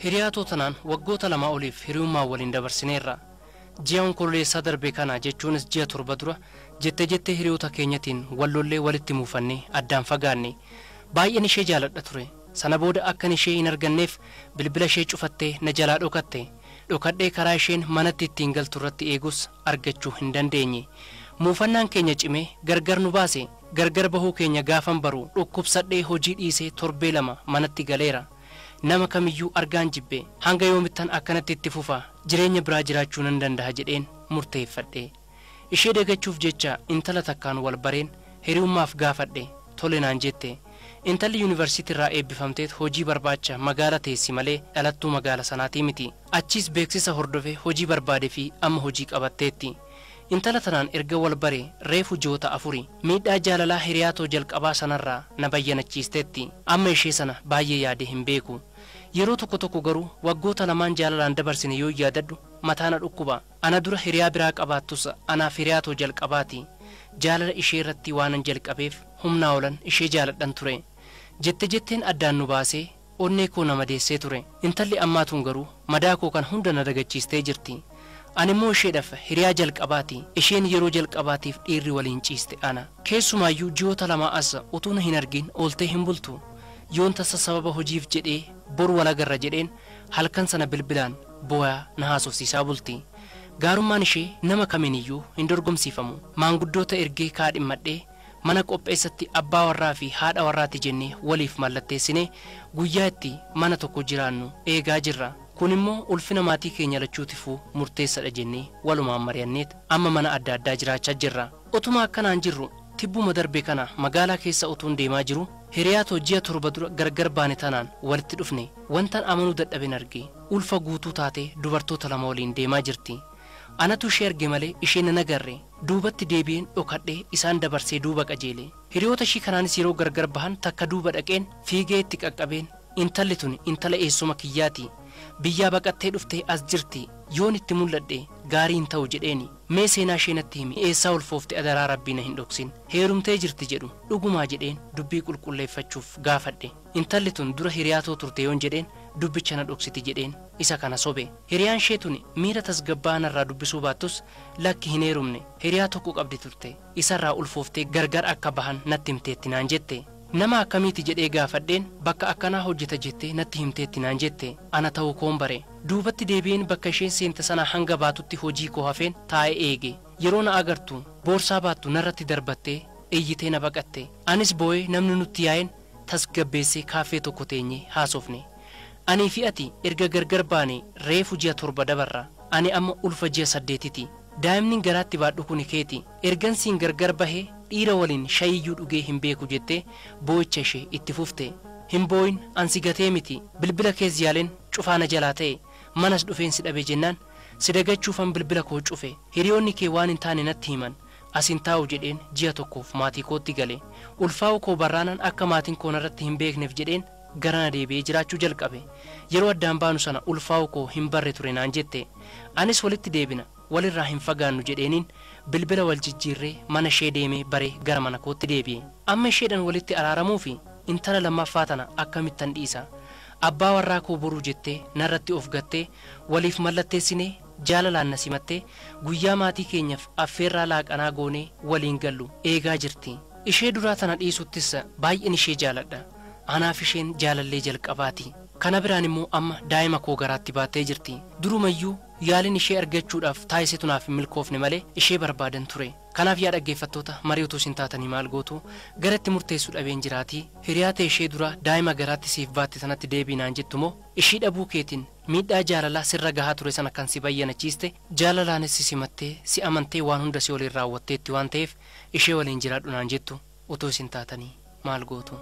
Hiriyaa Tootanaan waggoota lamaa oliif hiriyummaan waliin dabarsineerra. Ji'a Onkololeessaa darbe kana jechuunis ji'a torba dura jette jettee hiriyoota keenyatiin wal lollee walitti muufannee addaan fagaanne. Baay'een ishee jaaladha ture. Sana booda akkan ishee hin arganneef bilbila ishee cufattee na jalaa dhokatte. Dhokadhee karaa isheen manatti ittiin galtu irratti eegus argachuu hin dandeenye. Muufannaan keenya cimee gargar nu baase. Gargar bahuu keenya gaafan baru dhukkubsadhee hojii dhiisee torbee lama manatti galeera. Nama kamiyyuu argaan jibbe. Hanga yoomittan akkanatti itti fufa, jireenya biraa jiraachuu nan dandaha jedheen murteeffadhe. Ishee dagachuuf jecha intala takkaan wal bareen hiriyummaaf gaafadhe. Tole naan jette. Intalli yunivarsiitiirraa eebbifamteet hojii barbaacha magaala teessi malee dhalattuu magaala sanaatii miti. Achiis beeksisa hordofe hojii barbaade fi amma hojii qabatteetti. Intala tanaan erga wal bare reefu ji'oota afuri. Miidhaa jaalalaa hiriyaa too jalqabaa sanarraa na bayyanachiisteetti. Amma ishee sana baayyee yaadee hin beeku. Yeroo tokko tokko garuu waggoota lamaan jaalalaan dabarsine yoon yaadadhu mataa na dhukkuba. Ana dura hiriyaa biraa qabaattus anaaf hiriyaa too jalqabaati. Jaalala ishee irratti waanan jalqabeef humnaa olan ishee jaaladhan ture. Jette jetteen addaan nu baasee Onnee koo na madeessee ture. Intalli ammaa tun garuu madaa koo kana hunda na dagachiistee jirti. Animmoo isheedhaf hiriyaa jalqabaati. Isheen yeroo jalqabaatiif dhiirri waliin ciiste ana. Keessumaayyuu ji'oota lamaa as utuu na hin argiin ooltee hin bultu. Yoon tasa sababa hojiif jedhee bor wal agarra jedheen halkan sana bilbilaan booyaa na haasofsiisaa bulti. Gaarummaan ishee nama kamiiniyyuu hin dorgomsiifamu. Maanguddoota ergee kaadhimmadhee Mana qopheessatti abbaa warraa fi haadha warraati jennee waliif mallatteessinee guyyaa itti mana tokko jiraannu eegaa jirra. Kun immoo ulfina maatii keenya lachuutifuu murteessadha jennee walumaan mari'anneet amma mana adda addaa jiraachaa jirra. Otuma akkanaan jirru tibbuma darbe kana magaalaa keessa utuun deemaa jiruu hiriyaa too ji'a torba dura gargar baane tanaan walitti dhufne. Wantan amanuu dadhaben arge. Ulfa guutuu taatee dubartoota lama waliin deemaa jirti. Anatu ishee arge malee ishee nan agarre. Duubatti deebi'een dhokadhee isaan dabarsee duuba qajeele. Hiriyoota ishii kanaanis yeroo gargar bahan takka duuba dhaqeen fiigee itti qaqqabeen intalli tuni intala eessuma kiyyaati. Biyyaa baqattee dhuftee as jirti. Yoon itti mul'adhe gaarii hin ta'u jedheeni. Mee seenaa ishee natti himi eessaa ulfoofte adaraa Rabbii na hin dhoksin. Heerumtee jirti jedhu dhugumaa jedheen dubbii qulqulleeffachuuf gaafadhe. Intalli tun dura hiriyaa too turte yoon jedheen dubbicha na dhoksiti jedheen isa kana sobe. Hiriyaan ishee tuni miira tasgabbaa'aa narraa dubbisuu baattus lakki hin heerumne hiriyaa tokko qabdi turte isarraa ulfooftee gargar akka bahan natti himteetti naan jette. Nama akkamiiti jedhee gaafadheen bakka akkanaa hojjeta jettee natti himteetti naan jette. Ana ta'uu koon bare. Duubatti deebi'een bakka isheen seente sanaa hanga baatutti hojii koo hafeen taa'ee eege. Yeroo na agartu boorsaa baattu narratti darbattee iyyitee na baqatte. Anis boo'ee namni nutti yaa'een tasgabbeessee kaaffee tokko teenyee haasofne. Anii fi ati erga gargar baanee reefu ji'a torba dabarra. Ani amma ulfa ji'a saddeetiti. Daa'imni garaatti baadhu kuni keeti. Ergan siin gargar bahe dhiira waliin shayiiyyuu dhugee hin beeku jettee boo'icha ishee itti fufte. Hin boo'in an si gatee miti. Bilbila kees yaalen cufaa na jalaa ta'e. Manas dhufeen si dhabe jennaan si dagachuufan bilbila koo cufe. Hiriyoonni kee waan hin taane natti himan. as hin taa'u jedheen ji'a tokkoof maatii kootti gale. Ulfaa'uu koo barraanan akka maatiin koo narratti hin beekneef jedheen garana deebi'ee jiraachuu jalqabe. Yeroo addaan baanu sana ulfaa'uu koo hin barre ture naan jette. Anis walitti deebina, walirraa hin fagaannu jedheeniin bilbila wal jijjiirree mana ishee deemee baree gara mana kootti deebi'e. Amma isheedhan walitti araaramuufi intala lammaffaa tana akkamittan dhiisa? Abbaa warraa koo boruu jettee narratti of gattee waliif mallatteessinee jaalalaan na simattee guyyaa maatii keenyaf affeerraa laaqanaa goonee waliin gallu eegaa jirti. Ishee duraa tana dhiisuttis baay'een ishee jaaladha. Anaaf isheen jaalallee jalqabaati. Kana biraan immoo amma daa'ima koo garaatti baattee jirti. Durumayyuu yaaliin ishee argachuudhaaf taasisetu naaf hin milkoofne malee ishee barbaadan ture. Kanaaf yaa dhaggeeffattoota marii utuu isin taatanii maal gootu? Gara itti murteessu dhabeen jiraatii? Hiriyaa tee ishee duraa daa'ima garaatti siif baatte tanatti deebi'i naan jettu moo ishii dhabuu keetiin Miidhaa jaalalaa sirra gahaa ture sana kan si bayyanachiiste, jaalalaanis si simattee, si amantee waan hunda si waliin raawwatteetti waan ta'eef ishee waliin jiraadhu naan jettu utuu isin taatanii maal gootu?